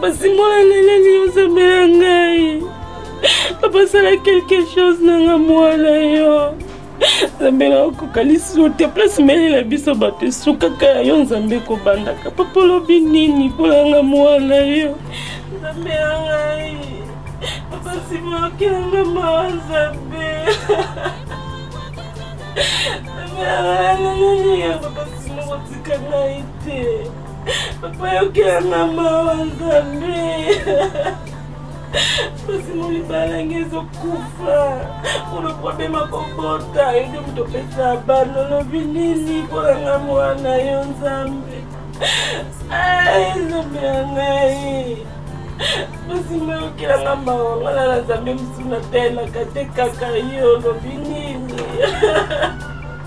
basimbola leleli yo nzambe na ngai papa sala quelque chose na nga mwana yo nzambe na okoka lisusu te place melela biso bato esukaka ya yo nzambe kobandaka papa olobi nini mpona nga mwana yo nzambe na ngai papa nsima okela nga mawa nzambe nzambe na ngai naleli yo papa nsima kotika ngai te papa yokela nga mawa nzambe basimo libala nge ezokufa olo probleme akobota yo nde moto opesa bana olobi nini mpo na nga mwana yo nzambe nzambe ya ngai basimo yokela nga mawa nga na na nzambe mosusu na telaka te kaka yo olobi nini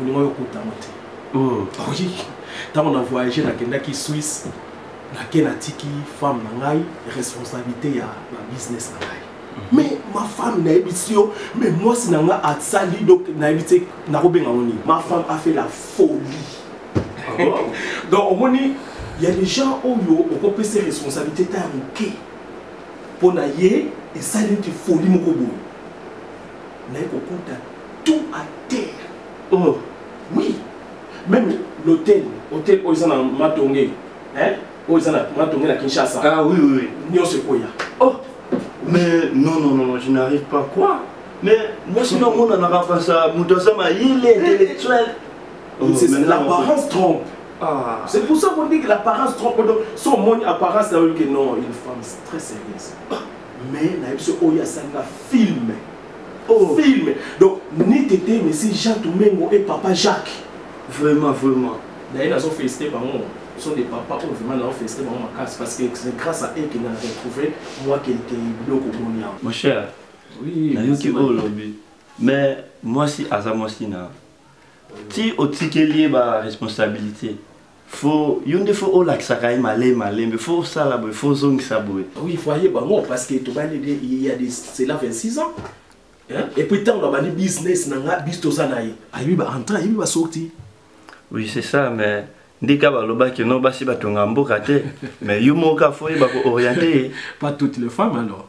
olinga yo okuta yango te hmm. oyi ntango na voyage nakendaki swisse nake natiki femme na ngai responsabilité ya babusiness na ngai hmm. mais ma femme nayebisi yo mais mwasi na ngai asali donc nayebi te nakobenga ngo nini ma femme a fait la folie ah donc omoni ya des gens oyo okopesa responsabilité ta ya moke mpo na ye esali neti folie moko boye naye kokuta tout à terre oh. oui même l'hôtel hôtel oyo eza na matonge hein? oyo eza na matonge na kinshasa ah, oui, oui. nyonso ekoya oh. mais non non non je n'arrive pas quoi mais mwasi na omonanaka mpasa moto aza mayele intellectuel oh, l'apparence trompe ah. c'est pour ça qu'on dit que l'apparence trompe donc so omoni apparence na oyoki non une femme très sérieuse ah. mais nayebi so oyo asali na film oh. film donc ni tete mesi jean tumengo et papa jacques vraiment vraiment d'ailleurs nazo félicité bango sont des papas oyo vraiment nao félicité bango makasi parce que c'est grâce à eux que na retrouvé moi quelque biloko omoni yango mon cher oui, nayoki oyo olobi mais mwasi aza mwasi na ti otikeli ye baresponsabilité fo yo nde fo olakisaka ye male malembe fo osala boye fo ozongisa boye oui fo ayeba ngo parce que tobandi de il y a des cela 26 ans hein? et puis ntango nabandi business na nga bis toza na ye ayebi ba entrée ayebi ba sorti oui c'est ça mais ndika balobaki no basi batonga mboka te mais yo moko kaka fo oyeba kooriente ye pas toutes les femmes alors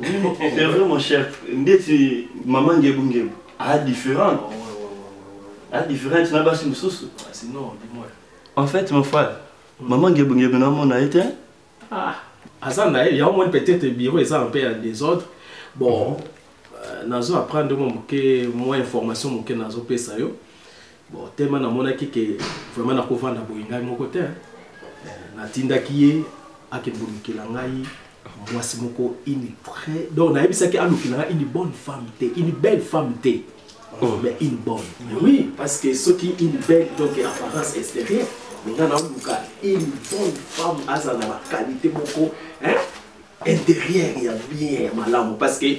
C'est vrai mon cher, ndeti maman ngebu ngebu, a différent. A différent na basi mususu. Ah, sinon dis-moi. En fait mon frère, maman ngebu ngebu na mona ete. Ah, aza na ye, yango moni peut-être bureau eza un peu en désordre. Bon, mhm. euh, nazo apprendre mo moke, mo information moke nazo pesa yo. bon tellement namonaki ke vraiment nakovanda boye ngai moko te natindaki ye akende kolukela ngai mwasi moko une très donc nayebisaki alukela ngai une bonne femme te une belle femme te oh. mais une bonne mais oui parce que soki une belle donc apparence extérieure mais nga naoluka une bonne femme azala na baqualité moko intérieure ya bien ya malamu parce que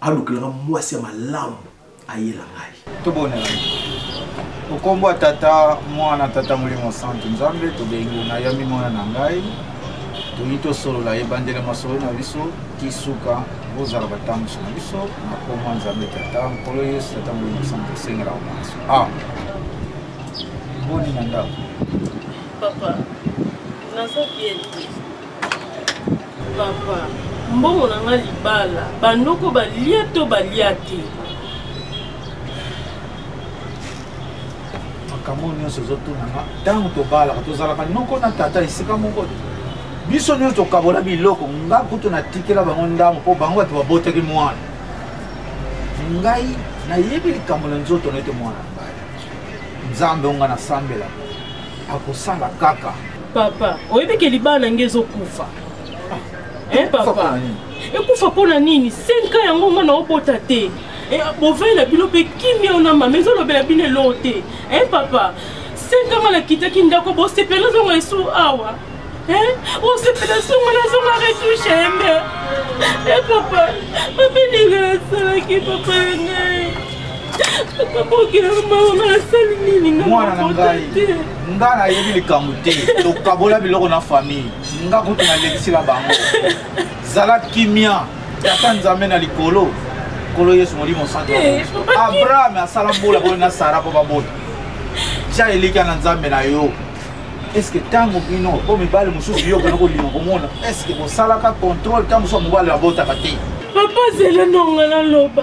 alukelaka mwasi ya malamu ayela ngai tobonela okombo ya tata mwana tata molimo santu nzambe tobengi na yami mwana na ngai toyi tosolola ebandela masolo na biso tisuka bozala batambusi na biso na koma nzambe tata nkolo yesu tata molimo santu esengela omanso a ah. boni na ndako papa naza bien papa mbongo na nga libala banoko balia to balia te makambo nyonso ezotunanga ntango tobalaka tozalaka noko na tata esika moko te biso nyonso tokabola biloko nga kutu natikela bango ndambo mpo bango bato babotaki mwana ngai nayebi likambo na nzoto na ete mwana nzambe onga nasambela akosala kaka papa oyebi ke libala na nge ezokufa ah. eh, papa ekufa mpo na nini 5 ans yango mwana obota te eh, bovei na bino mpe kimia ona mama ezolobela bino eloo te eh, papa 5 ans nga nakitaki ndako bosepela ozonga esu awa osepela songo nazonga retouche yembe e papa mabe ndenge nasalaki papa ya ngai mwana na ngai nga nayebi likambo te tokabola biloko na famille nga kutu nalekisila bango zala kimia tata nzambe na likolo nkolo yesu molimo santo eh, abrahame asala mbula boye na sara mpo babota tya elikya na nzambe na yo eske ntango bino mpo mibali mosusu yo okenda kolinga komona eske bosalaka contrôle ntango mosusu mobali abotaka te papa zela nonga naloba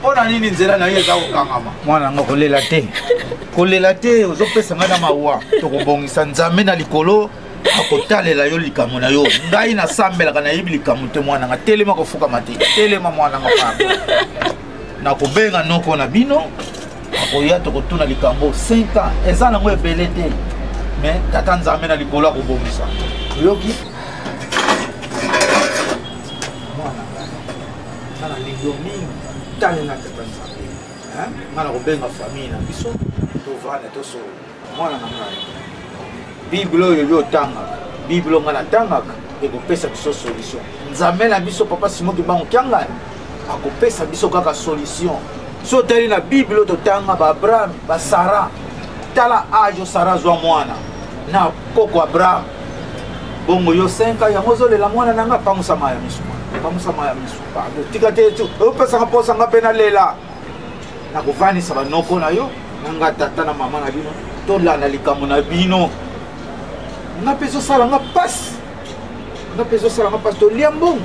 mpo na nini nzela na yo eza kokangama mwana yango kolela te kolela te ozopesa ngai na mawa tokobongisa nzambe na likolo akotalela yo likambo na yo ngai nasambelaka nayebi likambo te mwana nga telema kofukama te telema mwana nga pardon nakobenga noko na bino akoya tokotuna likambo 5 ans eza nango ebele te mais tata nzambe na likolo akobongisa oyoki nga na lingio mingi tale na tata nzambe nga na kobenga famille na biso tovanda tosolo mwana na ngai bible oyo yo otangaka bible nga natangaka ekopesa biso solution nzambe na biso papa simo kibango kiangani akopesa biso kaka solution so otali na bible totanga baabraham basara tala age osara azwa mwana na koko abraham bongo yo 5 ans yango ozolela mwana na nga pangusa maya misu pangusa maya misu pardon tika te tu opesaka mposa nga mpe nalela nakovanisa banoko na yo na nga tata na mama na bino tolanda likambo na bino nga mpe ezosala nga mpasi nga mpe ezosala nga mpasi tolia mbongo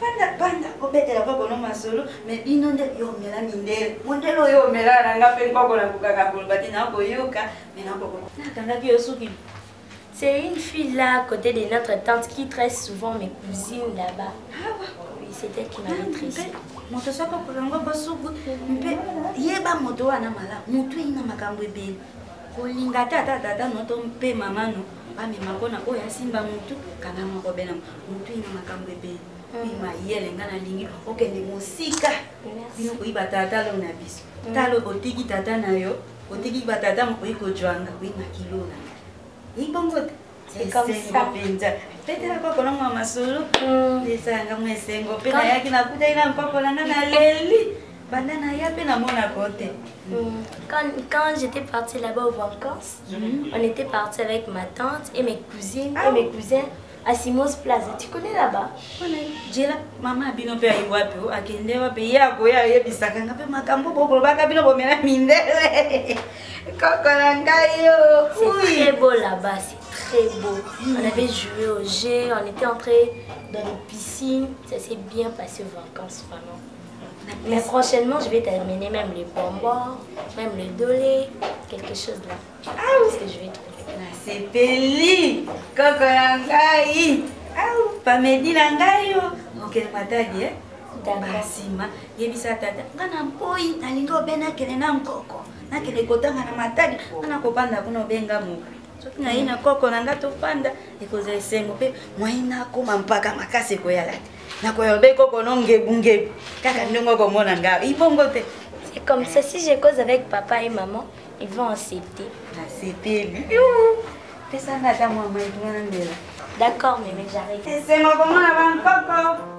fanda banda obetela koko no masolo me bino nde yo omela mindele mondele oyo omela na nga mpe nkoko na kokaka koloba te nakoyoka me nakoko nakangaki yo suki C'est une fille là, à côté de notre tante, qui très souvent mes cousines là-bas. Ah ouais. Oui, c'est elle qui m'a ah, maîtrisée. moto soko kolongo bosuku mpe yeba moto wana mala moto eyina makambo ebele kolinga tata tata noto mpe mama no bamema mpo na oyo asimba motu kanga moko bena motu ina makambo ebele oyi mm. mayele nga nalingi okende mosika bino koyiba tata lo na biso mm. talo otiki tata na yo otiki batata mokoyi kojwanga oyi makilo na eyi bongo te esengo mpenza petela mpoko na mwa masolo mm. esanga mwa esengo mpe nayaki nakutaki na mpoko na nga naleli Banda na ya pe na mona kote. Hmm, quand, quand j'étais partie là-bas aux vacances, mm -hmm. on était parti avec ma tante et mes cousines ah. et mes cousins à Simos Plaza. Tu connais là-bas Jela, maman abino pe ayi wapi o akende wapi ye akoya ayebisaka nga pe makambo bokolobaka bino bomela mindele koko na ngai yo. C'est très beau là-bas, c'est très beau. Mm. On avait joué au jeu, on était entré dans une piscine, ça s'est bien passé aux vacances vraiment. Mais prochainement, je vais t'amener même les bonbons, même le dolé, quelque chose là. Ah oui, que je vais trouver. Ah, c'est Peli, Coco Langaï. Ah, pas Mehdi Langaï. Oh. Ok, ma tadi, hein? basima yebisa tata nga na mpoi nalingi obe nakende na nkoko nakende kotanga na matadi nga nakobanda kuna obenga moka soki naye na koko na nga tofanda ekozala esengo mpe mwai nakoma mpaka makasi ekoyala te nakoyorde koko no ngebu ngebu kaka ndenge okomona nga ibongo te c'est comme ça si je cause avec papa et maman ils vont accepter nasepeli pesanga ata mwa maituna na ndela d'accord meme j'arrive esengo komona bankoko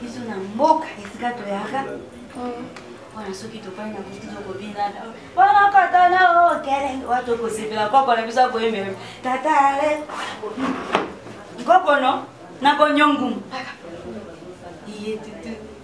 biso na mboka esika toyaka wana soki topai na kutu tokobinana wana katana okele wa tokosepela koko na biso akoyembela tata ale nkokono nakonyongumu iye tutu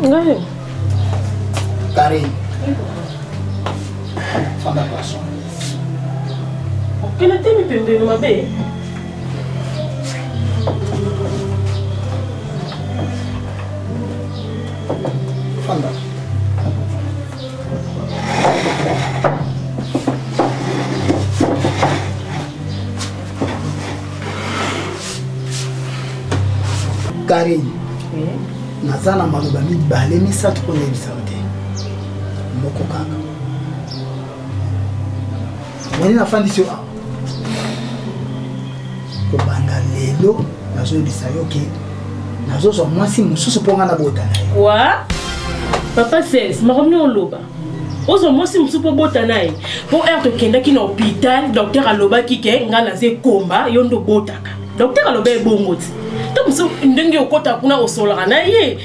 Ngai. Karine. Fanda paso. Okende te mipembeni mabe. Fanda. karine naza na maloba mibale misato mpo nayebisa yo te moko kaka omoni nafandisi yo awa kobanda lelo nazoyebisa yo ke nazozwa mwasi mosusu mpo ngai nabota na ye papa sels makomi oloba ozwa mwasi mosusu mpo obota na ye mpo heure tokendaki na hôpital docteur alobaki ke ngai naza ekomba yo nde obotaka docteur aloba ebongo ti to mosusu ndenge okota kuna osolaka na ye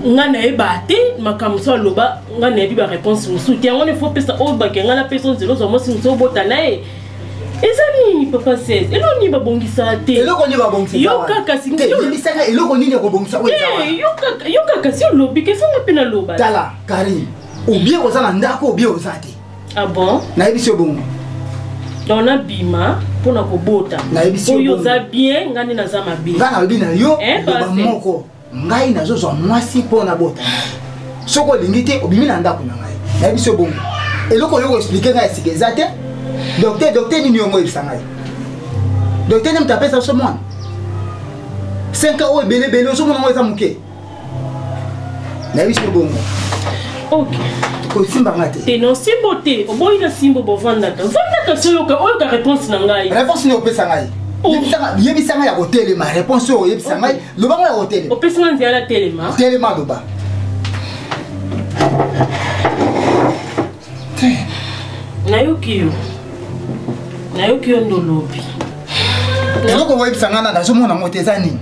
ngai nayeba te makambo mosusu aloba ngai nayebi baréponse mosusu te yango nefo pesa oyo bake ngai napesa nzela ozwa mwasi mosusu obota na ye eza nini papa 16 eloko nini babongisa te eloko nini babongisa yo kaka singi eloko nini ekobongisa oyo yo kaka yo kaka si olobi kesanga mpe naloba tala Carine, obie oza na ndako obie oza te. Ah bon? Nayebisi yo bongo. Donc na bima mpo na kobota. Nayebisi yo bongo. Oyo oza bien, ngani naza mabe. Nga nalobi na yo, eh, loba moko. Ngai nazozwa mwasi mpo na bota. Soko olingi te, obimi na ndako na ngai. Nayebisi yo bongo. Eloko oyo expliquer ngai esika eza te. Docteur, docteur nini yongo oyebisa ngai? Docteur nini moto apesa biso mwana? 5 ans oyo ebele ebele ozomona ngo eza moke. nayebi soki bongo kosimba nga te te na osimbo te oboyi na simbo bovandaka vandaka so oyoka oyoka réponse na ngai réponse nde opesa ngai oh. yebisa ngai ya kotelema réponse oyo oyebisa ngai loba ngai ya kotelema opesi nga nzela telema telema loba nayoki yo nayoki yo nde olobi eloko oyebisa ngai na nazomona yango te eza nini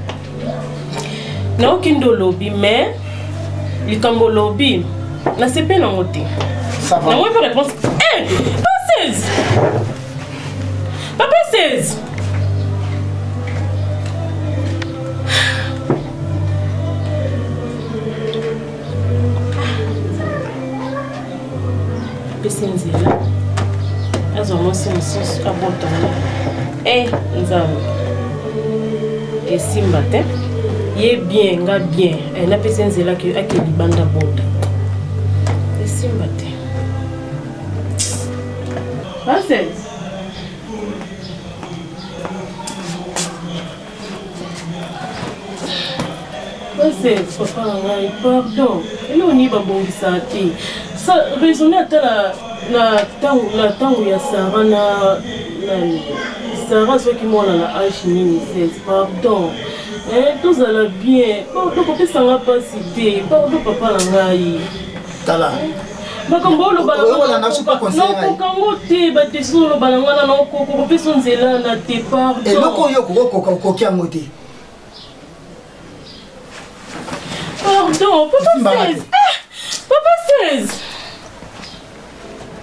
nayoki nde olobi mais likambo olobi nasepe nango te nango mpe réponse eh, pa 16 papa 16 ah, apesi nzela azwa mwasi mosusu abotana e eh, nzambe esimba te ye bien nga bien eh, napesi nzela ake libanda bota esimba te Nonsense. ose papa na ngai pardon eloko nini babongisaka te sa raisonne ata na ntango ya sara na nani sara azwaki mwana na age nini 16 pardon eh, tozala bien pardon kopesanga mpasi te pardon papa na ngai tala makambo oloba naokokango te badesizio oloba na ngai na naokoka kopesa nzela na te pardon eloko oyo okokoka okoki yango te pardon papa 16 papa 16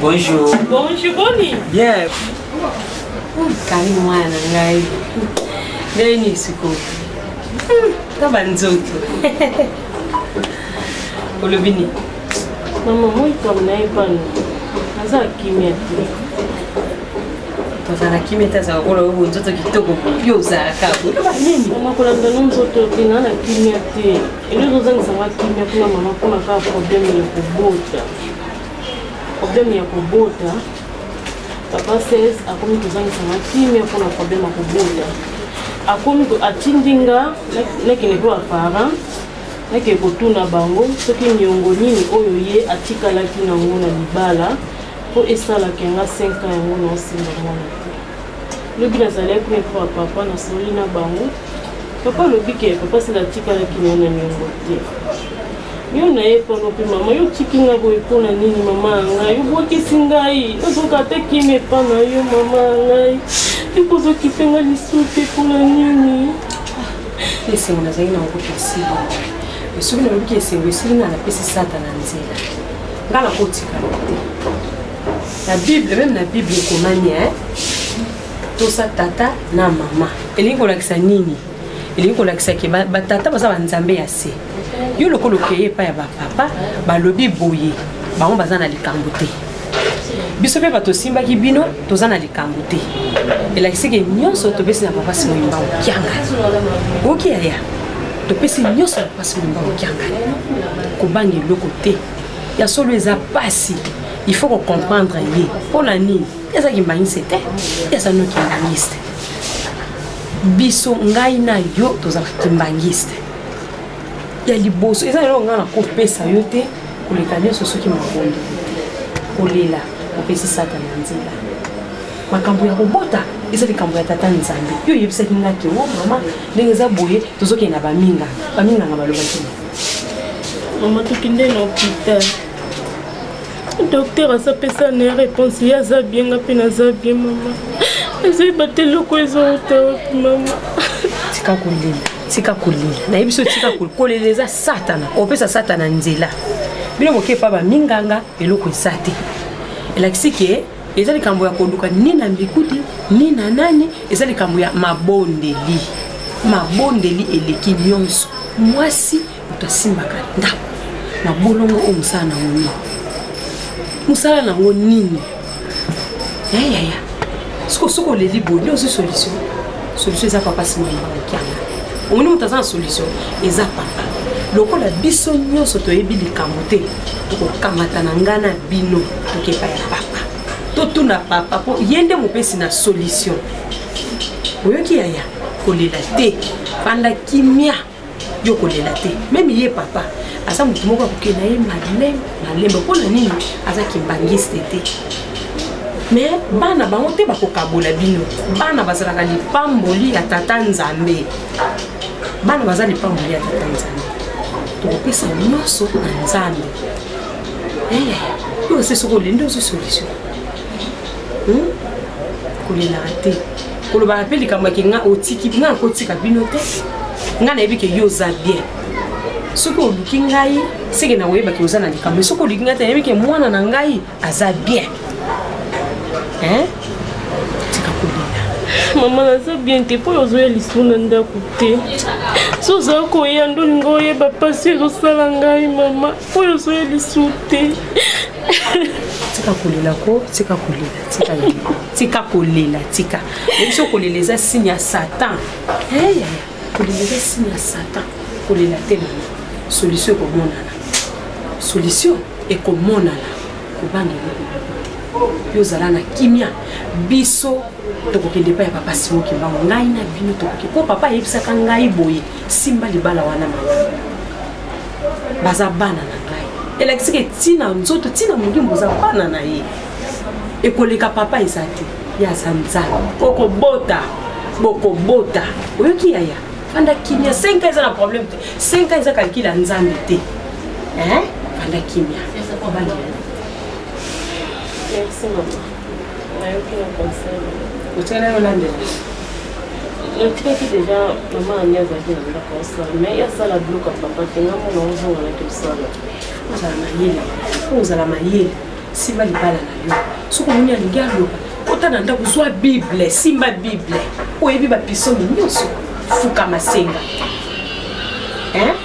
Bonjour. Bonjour, Boni. Bien. Kali mwana na ngai. Ndenge nini sikoyo? Ta hmm, banzoto. Olobi nini? Mama, moi kama na ye pano. Naza kimia te. Tozala kimia te azala kola oyo nzoto kitoko. Yo ozalaka. Oloba nini? Mama kolanda no nzoto te, na na kimia te. Elo ezozangisa nga kimia kuna mama mpona kaka problème ya kobota problème ya kobota papa 16 akomi kozangisa nga kimia mpona problème ya kobota akomi atindi nga nakende mpo baparent nakende kotuna bango soki niongo nini oyo ye atikalaki nango na libala mpo esalaka yanga 5 ans yango naosimba mwana lobi nazalaki kuna epa papa nasololi na bango papa alobi ke papa sila atikalaki na na niongo te yo na ye pano mpe mama yo otiki nga boye mpo na nini mama ya ngai obwakisi ngai ozoka ata kimi epa na yo mama ya ngai ekozokipe nga lisusu te mpo na nini ah, esengo nazali na yango kasili soki nalobi ke esengo esili nga napesi satana nzela nga nakotikala te na bible meme na bible ekomani eh? tosa tata na mama elingi kolakisa nini elingi kolakisa ke batata baza banzambe ya se yo lokola okeye epai ya bapapa balobi boye bango baza na likambo te biso mpe bato osimbaki bino toza na likambo te elakisi ke nyonso topesi na papa simo yimba okianga oki yaya topesi nyonso na papa simo yimba okianga kobanga eloko te ya solo eza mpasi il faut kocomprendre ye mpo na nini ye aza kimbanise te ye aza no kimbangiste biso ngai na yo tozalaka kimbangiste ya liboso eza eloko ngai nakopesa yo te koleka nyonso soki makondo kolela opesi satana nzela makambo ya kobota eza likambo ya tata nzambe yo oyebisaki nga ke o oh, mama ndenge eza boye tozokende na baminganga baminganga balobaki mama tokende na hopital docteur aza pesa na ye réponse ye aza bien nga mpe naza bien mama ezoyeba te eloko ezouta wapi mama tika kolela tika kolela nayebi so tika kolela eza satana opesa satana nzela bino boke epa baminganga eloko eza te elakisi ke eza likambo ya koluka ni na mbikuti ni na nani eza likambo ya mabondeli mabondeli eleki nyonso mwasi moto asimbaka ndako na bolongo oyo mosala nango nini mosala nango nini yayaya soko soki oleli boye nde ozwi solution solution eza papa simoyakianga omoni moto aza na solution eza papa lokola biso nyonso toyebi likambo te tokokamata na ngai na bino tokepa ya papa totuna papa mpo ye nde mopesi na solution oyoki yaya kolela te fanda kimia yo kolela te meme ye papa aza motu moko akoke na ye malembe malembe mpo na nini aza kimbangiste te me bana bango te bakokabola bino bana bazalaka lipamboli ya tata nzambe bana baza lipamboli ya tata nzambe tokopesa nyonso na nzambe eh, yo ose soki olende ozwi solution hmm? kolelaka te kolobaka mpe likambo yake nga otiki nga nakotika bino te nga nayebi ke yo oza bien soki oluki ngai seke na oyebaki oza na likambo soki oluki ngai te nayebi ke mwana na ngai aza bien hein? tika kolela mama naza bien te mpo ozoya lisu na ndako te so oza koya ndolinga oyeba mpasi ezosala ngai mama oyo ozoya lisu te tika kolela ko tika kolela tika tika kolela tika ebiso kolela eza signe ya satan eyaya kolela eza signe ya satan kolela te na solution ekomonana solution ekomonana kobanga eloko yo ozala na kimia biso tokokende epai ya papa simo kimbango ngai na bino tokoki mpo papa ayebisaka ngai boye simba libala wana mama baza bana na ngai elakisaka etina nzoto ntina molimo boza bana na ye ekoleka papa eza te ye aza nzambe okobota bokobota oyoki yaya fanda kimia 5 eza na problème te 5 eza kalkile ya nzambe te fanda kimia natikaki deja mama ani azalaki na ndako osala mai asala biloko ya papa te nga mona ozonga naki osala ozala mayele po ozala mayele simba libala na yo soki omoni alingi aloba kota na ndako zwa bible simba bible oyebi bapisoni nyonso fukama senga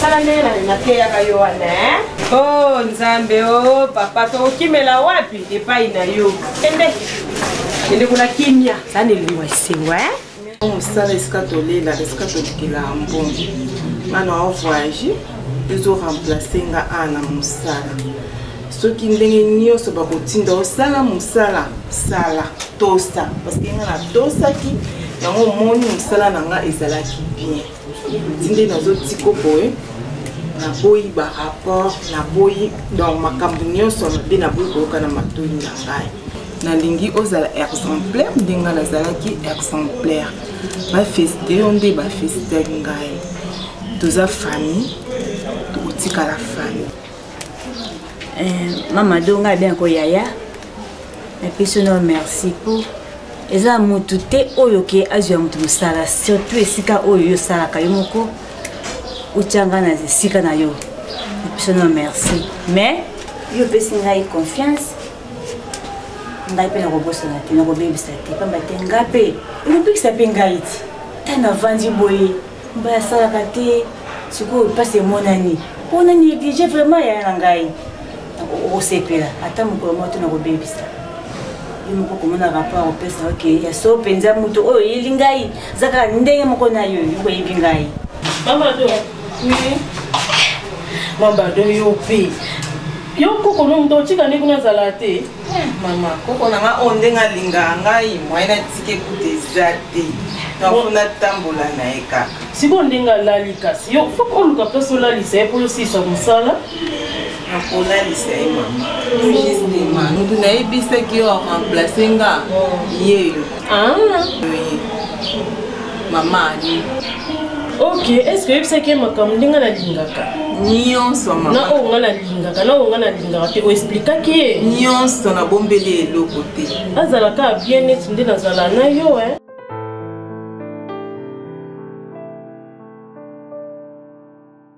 sala ndenge na- nateyaka yo wana eh? oh nzambe oh papa tokokimela wapi epai na yo kende kende kuna kimia za na elengo ya esengo eh? mosala esika tolela esika tolukela mbongo nga na ovoyage ezo remplace nga a na mosala soki ndenge nyonso bakotinda osala mosala sala tosa parceke nga natosaki yango omoni mosala na nga ezalaki bien tinde nazotika boye naboyi barapport naboyi donc makambo nyonso mabe naboyi koyoka na matoi na ngai nalingi ozala exemplaire ndenge nazalaki exemplaire bafesite yo nde bafesite ngai toza famille tokotikala famille Eh, mama do ngai bien koyaya napesi no merci po eza motu te oyo ke azwa motu mosala surtout esika oyo yo osalaka yo moko otya ngai na esika na yo napesi no merci mais yo opesi ngai confiance ngai mpe nakobosana te nakobebisa te pamba te ngai mpe ekobikisa mpe ngai ti ntango navandi boye mbaya asalaka te sikoyo mpasi emonani mpo na néglige vraiment yaya na ngai okosepela ata mokolo moko te nakobebisa ye moko komona rapport opesa oke ya so mpenza moto oyo oyeli ngai eza kaka ndenge moko na yo yokoyebi ngai mamado mamado yo mpe yo koko no moto otika nde kuna azala te Eh, mama koko na nga oyo ndenge alingaka ngai mwaye natika ekuta eza te nafo natambola na ye kaka sikoyo ndenge alali kasi yo fo oluka place olalisa ye mpo yosilisa mosala nakolalisa ye mama justement motu nayebisaki yo aremplace nga yeyo ah. mama ali ok est ce que oyebisaki ye makambo nde ngai nalingaka nyonso mama na oyo ngai nalingaka na oyo ngai nalingaka te oexplikaki ye nyonso nabombeli eloko te azala kaka bien neti nde nazala na yo eh.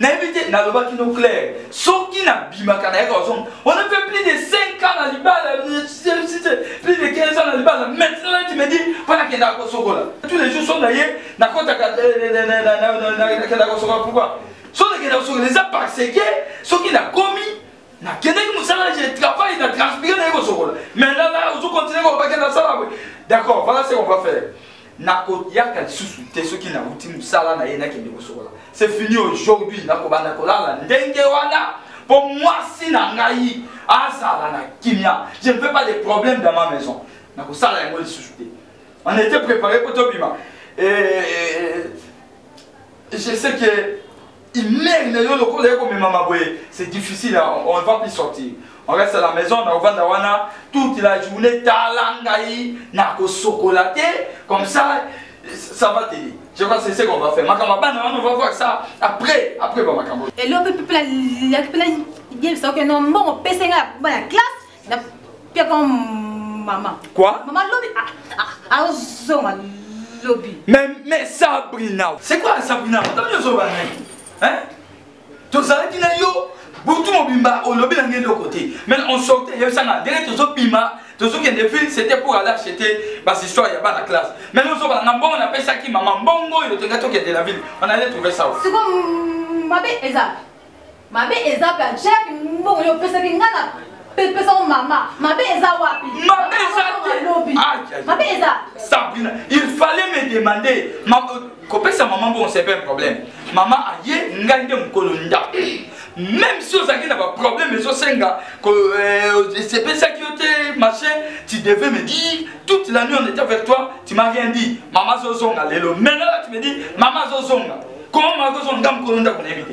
nayebi te nalobaki no claire soki nabimaka nayaka ozonga on a fait plus de 5 ans na libala plus de 15 ans na libala maintenant là tu me dis mpo nakendaka kosokola tous les jours so na ye nakotaka nakendaka kosokola pourquoi so nakenda kosokola eza parce que soki nakomi nakendaki mosala je travaille na transpire naye kosokola maintenant là ozo continue kolobaki nasala boye d'accord voilà ce qu'on va faire nakoyaka lisusu te soki nauti mosala na ye nakende kosokola c'est fini aujourd'hui nakobanda kolala ndenge wana mpo mwasi na ngai azala na kimia je ne veux pas de problème dans ma maison nakosala yango lisusu te on était préparé mpo tobima je sais que imeri na yo lokola ye komemama boye c'est difficile on va plus sortir on reste à la maison na ovanda wana toute la journée tala ngai na kosokola te comme ça ça va t'aider je crois c'est ce qu'on va faire makambo bana wana on va voir ça après après ba makambo eloko epepela yebisa oke no mbongo pesa ngai bana classe Na pia comme maman. Quoi? Maman lobi ah ah ah zoma lobi. Mais mais Sabrina. C'est quoi Sabrina? T'as bien zoma hein? Tozalaki na yo butu mobimba olobi na ngai eloko te mais on sortait yebisanga ndenge tozobima tozokende ville c'était pour aller acheter bashistoire ya bana classe mais nozobala na mbongo napesaki mama mbongo oyo tolinga tokende la ville on allait trouver ça siko mabe eza mabe eza pe jack mbongo yo opesaki nga na pesa o mama mabe eza wapi mabe eza te mabe eza sabrina il fallait me demander kopesa mama mbongo c'est pas un problème mama aye ngai nde mokolo ndako même si ozalaki na baproblème ezosenga esepesaki euh, yo te machin tu devais me dire toute la nuit on était avec toi tu m'as rien dit mama azozonga lelo maintenant là tu me dis mama azozonga comment mama azozonga nga mokolo ndako nayebi te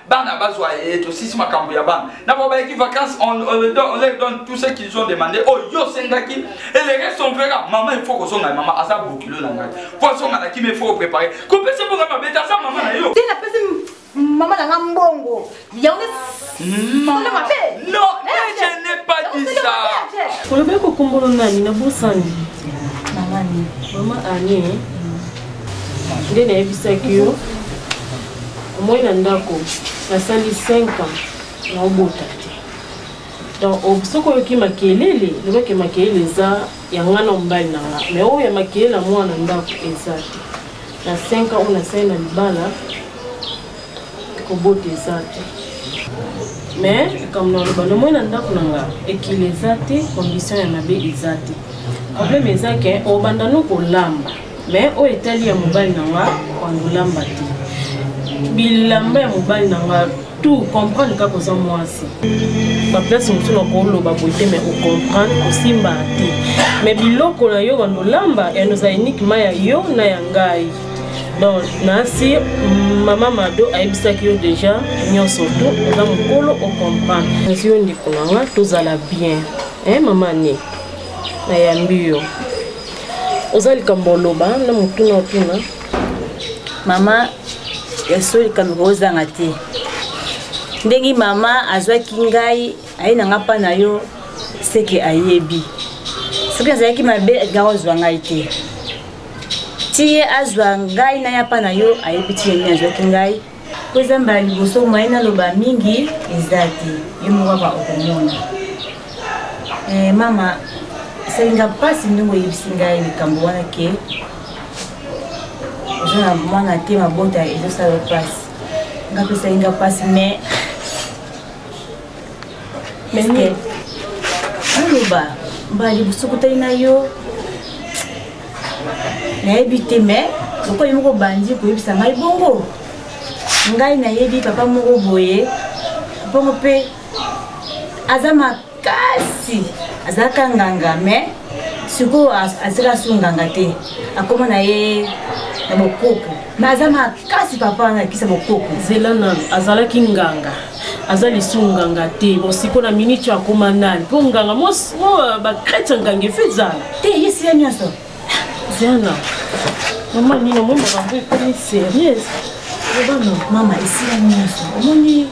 bana bazwa ye tosisi makambo ya bana na bango bayaki vacances on, on, on, on leur donne tout ce qu'ils ont demandé oyo oh, yo osengaki et le reste on verra mama il faut kozonga ye mama aza bokilo na ngai po azonga na kimi il faut koprépare kopesa mpo ngai mabete aza mama na yo te napesi mama na ngai mbongo yango sala mabe non je n'ai pas dit ça olobaki kokombolo nani na bosani mama ani nde nayebisaki yo omoi na ndako nasali 5 ans na obota te donc oh, soki oyoki makelele lobake makelele eza ya ngai na mobali na nga mais oyo ya makelele ya mwana ndako eza te na 5 ans oyo nasali na libala kobota eza te mais likambo na loba nomoi na ndako na nga ekili eza te condition ya mabe eza te problème eza ke obanda no kolamba mais oyo etali ya mobali na nga kondolamba te bilamba ya mobali na nga tout comprendre kaka oza mwasi baplace mosusu na koloba boye te mais ocomprendre osimbaka te mais biloko na yo bando olamba yano ozala uniquema ya yo na ya ngai donc nasi mama mado ayebisaki yo déjà nyonso tu oza mokolo ocomprendre nasi yo ndeko na nga tozala bien e eh, mama ne nayambi yo oza likambo oloba na motuna otuna mama ya solo likambo kozanga te ndenge mama azwaki ngai aye na nga mpa na yo seke ayebi soki azalaki mabe alinga kozwa ngai te ti ye azwa ngai na ya mpa na yo ayebi ti ye nini azwaki ngai mpo eza mbala liboso moye naloba mingi eza te yo moko kaka okomona eh, mama esalinga mpasi ndenge oyebisi ngai likambo wana ke oza na mwana te mabota ezosala mpasi nga mpe esalinga mpasi mais naloba mbala liboso kutani na yo nayebi te mais lokola moko bandi koyebisa ngai bongo ngai nayebi papa moko boye bongo mpe aza makasi azalaka nganga mais sikoyo azalaka su nganga te akoma na ye na bokoko mais aza makasi papa wana akisa bokoko zela nano azalaki nganga aza lisumu nganga te bosiko na miniti oyo akoma nani mpo nganga mo euh, bakrete nganga efe ezala te yesi ya nyonso zana mama nini omoi makambo ekomi serieuse obano mama esi ya nyonso omoni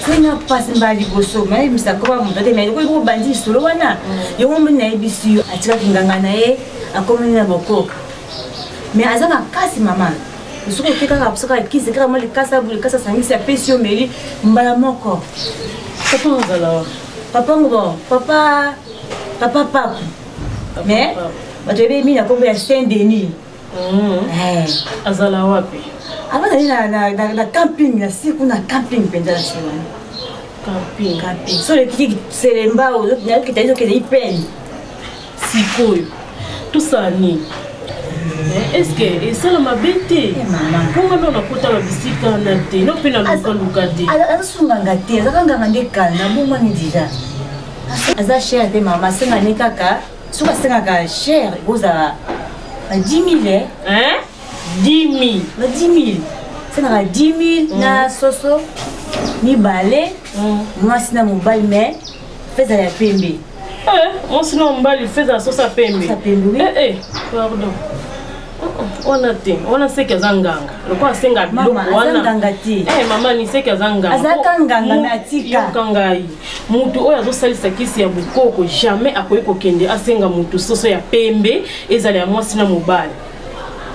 sena mpasi mbala liboso mayebisa koba moto te mai okoki kobandi lisolo wana mm. yango moni nayebisi yo atikaki nganga na ye akomeli na bokoka mais aza makasi mama osuki oke kaka kosaka kisi kaka mwa likasa boye likasa asangisi apesi yo meli mbala moko papa ozala papa ngo papa papa pape mais bato yebeyi mingi na nkombo ya saint denis mm-hmm. eh. azala wapi ava zali na camping na si kuna camping mpenza na si wana camping camping so lekiki selemba ozokitali zokende ipeni sikoyo tosala nini eh, eske esala mabe te eh, mpo nga nao nakotaka bisika na te no mpe nalukaluka te azasunganga te azaka nganga nde kala nabongwani deja aza chere te mama asenga ne kaka soki asengaka chere ekozala na 10 mille 10 mille na 10 mille asengaka 10 mille na mm. soso mibale mm. mwasi na mobali mai feza ya pembe eh, mwasi na mobali feza ya sosa pembe eh, eh, pardon wana te wana seke aza nganga lokola asenga biloko wananganga te eh, mama ni seke aza nganga azaka nganga me atikayoka ngai motu oyo azosalisa kisi ya bokoko jamais akoki kokende asenga motu soso ya pembe ezala ya mwasi na mobali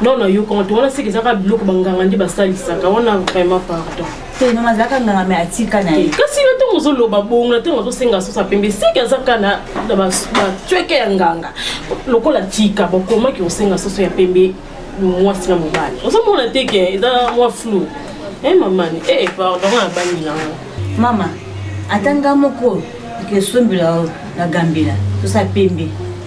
non nayoka wana te wana seke ezaka biloko banganga nde basalisaka wana vraiment pardon te non azalaka nganga me atika na ye kasi na ntango ozoloba bongo na ntango azosenga sosa pembe seke azaka na bacweke ya nganga lokola tika bakomaki kosenga soso ya pembe mwasi na mobali ozomona te ke eza mwa flou e eh, mamani e eh, pardon abangi nango mama ata nga moko ekesombela na gambela sosa pembe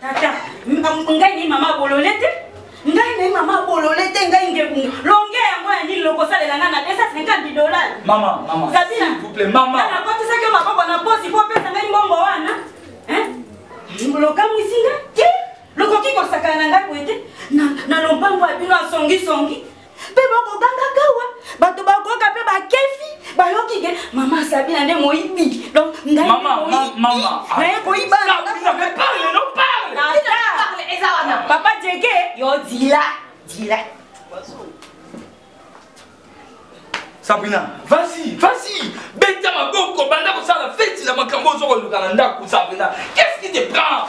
tata ngai ni mama bolole te ngai naye mama bolole te ngai ngebunga longe yango ya nini lokosalela ngai na 250 dolar mama mama sabina couple mama nakotisaki maboko na posi po opesa ngai mbongo wana lokamwisi ngai te lokoki kosakana na ngai boye te na lombango ya bino asongisongi mpe bakoganga kawa bato bakoyoka mpe bakefi bayoki ke mama sabina nde moyibi donc ngainaye koyiba papa jeke yo dila dila sabina vasi vasi beta maboko banda kosala feti na makambo ozo koluka na ndako sabina qu'est ce qui te prend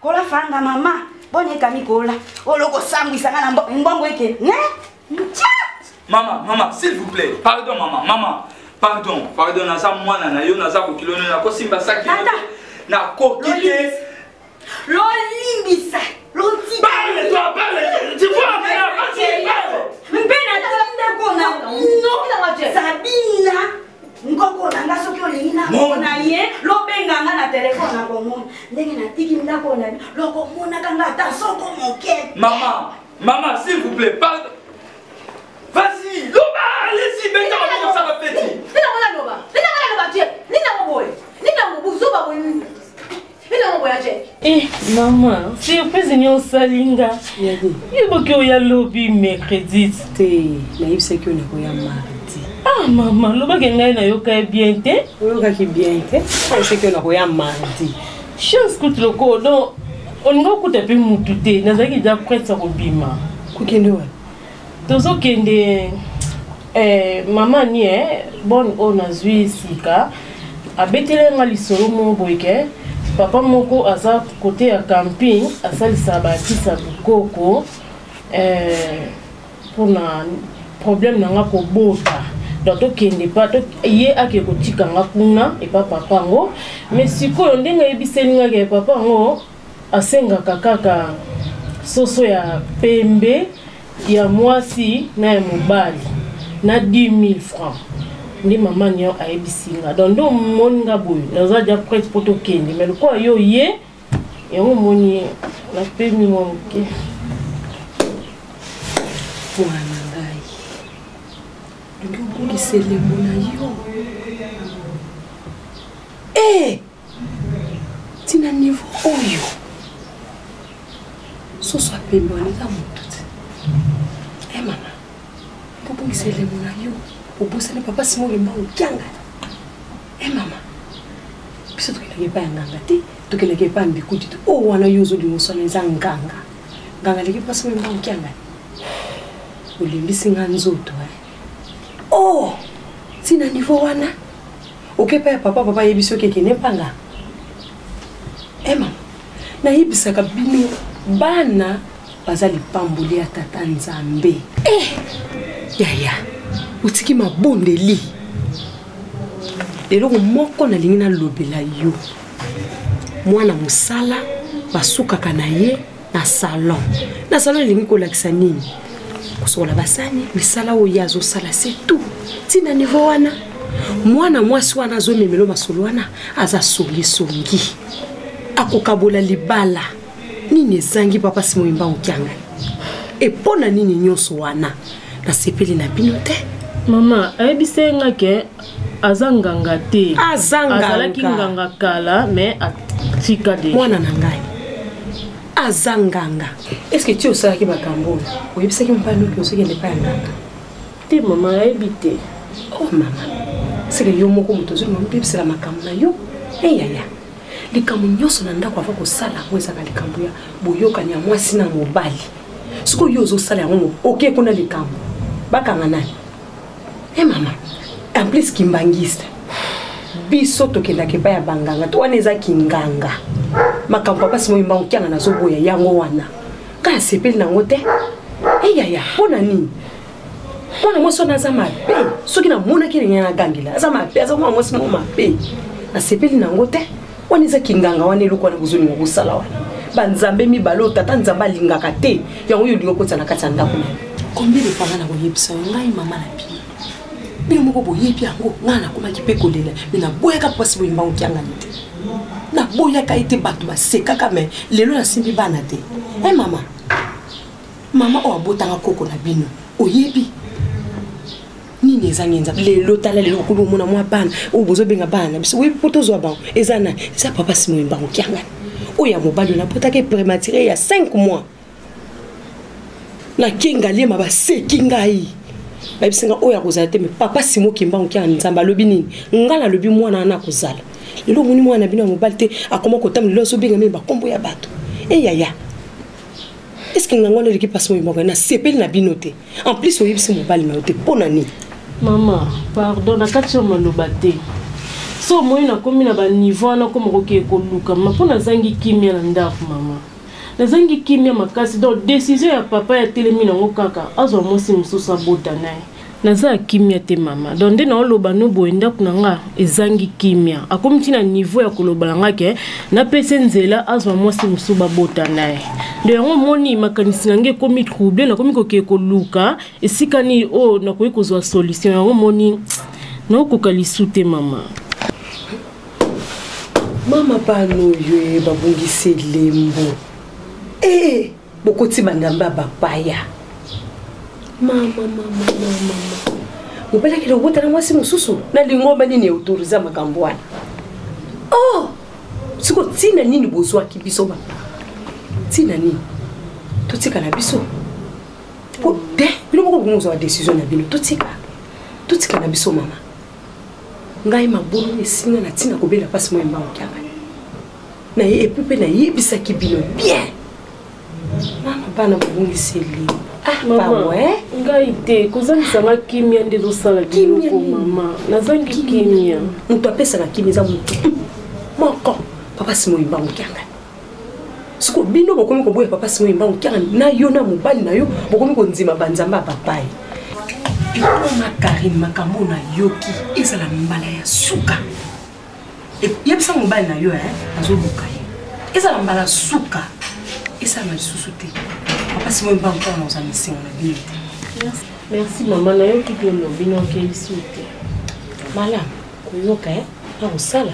kola fanga mama boni ekami kola oloko sambwisa nga na mbongo eke ne nca mama mama s'il vous plaît pardon mama mama pardon pardon naza mwana na yo naza kokilo nini nakosimba saki nakoki te lolimbisa mpe naza ndako na bino sabina nkoko na nga soki olingi namona ye lobenga nga na telefone nakomona ndenge natiki ndako na lokomonaka nga ata soko moke mama mama s'il vous plaît pardon vas-y loba allez-y beta maboko sala peti nina mona loba nina mona loba tie nina moboye nina mobuzoba boye elongo boya je eh mama surprise nini osali nga yeboki oya lobi mercredi te nayebisaki oyo nakoya mardi ah mama lobaki ngai nayokaki bien te oyokaki bien te nayebisaki oyo nakoya mardi chance kutu lokoo donc olingi okuta mpe mutu te nazalaki deja prete ya kobima kokende wapi tozo kende eh, mama ni eh, bonne oyo nazwi sika abetele nga lisolo moko boyeke papa moko aza kote ya camping asalisa bakisa bikoko eh, mpona problème na nga kobota donc tokende pa to, ye ake kotika nga kuna epa papa yango mais sikoyo ndenge ayebiseli nga ke papa yango Asengaka kaka soso ya pembe ya mwasi na ya mobali na 10000 francs nde mama nio ayebisi nga donc nde omoni nga boye naza dia prete mpo tokende mai lokola yo ye yango omoni napemi mwa moke mwana na ngai olingi okolisa elembo na yo ee eh! tina niveau oyo soso apembe wana eza motu te e eh, mama kobongisa elemo na yo obosani papa simo olemba okianga e eh, mama biso tokendaki epai ya nganga te tokendaki epai ya mbikuti te oyo oh, wana yo ozolinga oswana eza nganga nganga aleki mpasi olemba okianga olembisi nga nzoto e eh. o oh, ntina nivo wana oke epai ya papa papa ayebi soki ekende mpanga ema eh, nayebisaka bino bana baza lipamboli ya tata nzambe eh, yaya otiki mabondeli eloko moko nalingi nalobela yo mwana mosala basukaka na ye na salon na salon elingi kolakisa nini kosokola basani misala oyo ye azosala se tout ntina nivo wana mwana mwasi wana azomemelo masolo wana aza songisongi akokabola libala nini ezangi papa simoyimba okiangani epo na nini nyonso wana nasepeli na bino te mama ayebisai nga ke aza nganga te azalaki nganga kala mais atika de mwana na ngai aza nganga estce ti osalaki makambo oyo oyebisaki mobali noki ozokende epai ya nganga te mama ayebi te o oh, mama seke yo moko moto ozwi mama oyebisela makambo na yo eyaya likambo nyonso na ndako ava kosala yango ezaka likambo ya boyokani ya mwasi na mobali sikoyo yo ozosala yango oke kuna likambo bakanga nani e mama en plus kimbangiste biso tokendaka epai ya banganga to wana eza kinganga makambo ya basi moyimba okianga nazoboya yango wana ngai asepeli nango te eyaya eh, mpo na nini mwana mwasi wana aza mabe soki namonaki ndenge nagangela aza mabe aza mwana mwasi moko mabe nasepeli nango te wana eza kinganga wana eloko wana bozolinga kosala wana banzambe mibale oyo tata nzambe alingaka te yango oyo olingi okotisa na kati ya ndako nayo combien de fois nga nakoyebisa yo ngai mama na bino bino moko boyebi yango ngai nakomaki mpe kolela me naboyaka mpasi boyemba okiangani te naboyaka ye te bato basekaka me lelo nasimbi bana te e mama mama oyo abotanga koko na bino oyebi nini eza nini eza lelo tala lelo okoli omona mwa bana oyo bozobenga bana na biso oyebi mpo tozwa bango eza nani eza papa simoyi mbango kiangani oyo ya mobali oyo napotaki prématuré ya 5 mois nakenga liema baseki ngai bayebisi ngai oyo akozala te me papa simo kimbango kia nzambe alobi nini ngai nalobi mwana wana akozala lelo omoni mwana na bino ya mobali te akoma kotambola lelo azobenga mini bakombo ya bato eyaya eh, est ce que ngango wana eleki mpasi oyembaka nasepeli na bino te en plus oyebisi mobali na yo te mpo na nini mama pardon na kati ya maloba te so omoi nakomi na baniveau wana koma kokee koluka ma mpo nazangi kimia na ndako mama nazangi kimia makasi donc desizio ya papa ya telemi nango kaka azwa mwasi mosusu abota naye naza kimia te mama donc nde naoloba no boye ndako na nga ezangi kimia akomi ti na niveau ya koloba na nga ke napesi nzela azwa mwasi mosusu babota na ye ndo yango omoni makanisi na ngai ekomi trouble nakomi kokee koluka esika nini oyo oh, nakoki kozwa solution yango omoni naokoka lisu te mama mama pano oyo eh, babongisi elembo ee eh, bokoti banzambe ya bapaya mobelakeli obota na mwasi mosusu na lingomba nini eutoriza makambo wana oh! siko ntina nini bozwaki biso ba ntina nini totika na biso po te bino moko bokomozwa ba décision na bino totika totika na biso mama ngai mabulu esinga na ntina kobela mpasi moye mbango kiangani na ye epuis mpe nayebisaki bino bien mama bana babongisi elimo ah, ngai te kozangisa nga kimia nde ezosala biloko mama nazangi kimia moto apesaka kimia eza motu moko papa simoyi mbango kiangani siko bino bokomi koboya papa simo yemba okiaka na yo na mobali na yo bokomi kondima banzambe ya papai bikoma karine makambo na yoki ezala mbala ya suka e, yebisa mobali na yo eh, azoluka ye ezala mbala suka esalama lisusu te papa simo yemba mpona na oza misengo na bino te merci mama nayoki bino bino okelisi te malamu koyoka eh, na kosala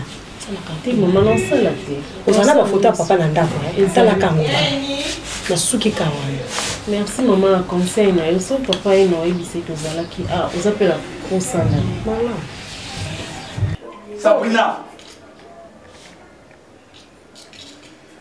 te mama nasala te oza na bafoto ya papa na ndako eh? etalaka yango nasuki ka wana merci mama na conseil na yo so papa ye na oyebisa ete ozalaki a ah, oza mpe la kosana mama sabrina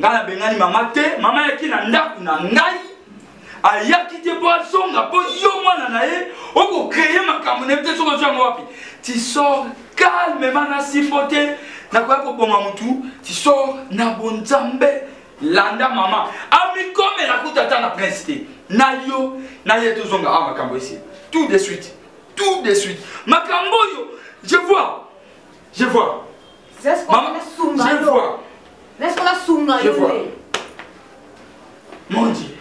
ngai nabengani mama te mama yaki na ndako na ngai ayaki te mpo azonga mpo yo mwana na ye okokreye makambo na ye te soki ozwa yango wapi tisor calmement na simbo te nakoya koboma motu tisor na bonzambe landa mama amikomela kuta ata na prince te na yo na ye tozonga awa ah, makambo esi tout de suite tout de suite makambo oyo je vois je vois Maman, je vois. Laisse qu'on a sunga Je vois. Mon Dieu.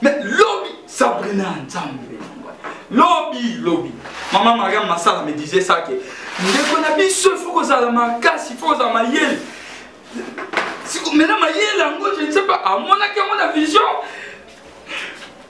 Mais lobby, Sabrina Nzambe. Lobby, lobby. Maman Mariam Massala me disait ça que ndeko na biso il faut kozala makasi, il faut kozala mayele. Maintenant mayele yango je ne sais pas, amonaki yango na vision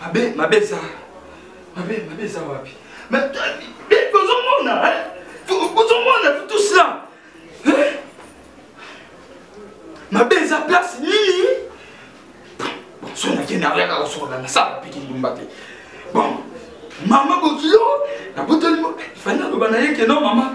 mabe mabe eza mabe mabe eza wapi tozomona tozomona tout cela mabe eza place nini so nakende ayaka kosokola nasala piki ndumba te bon mama bokilo nabotoli ifani naloba na ye keno mama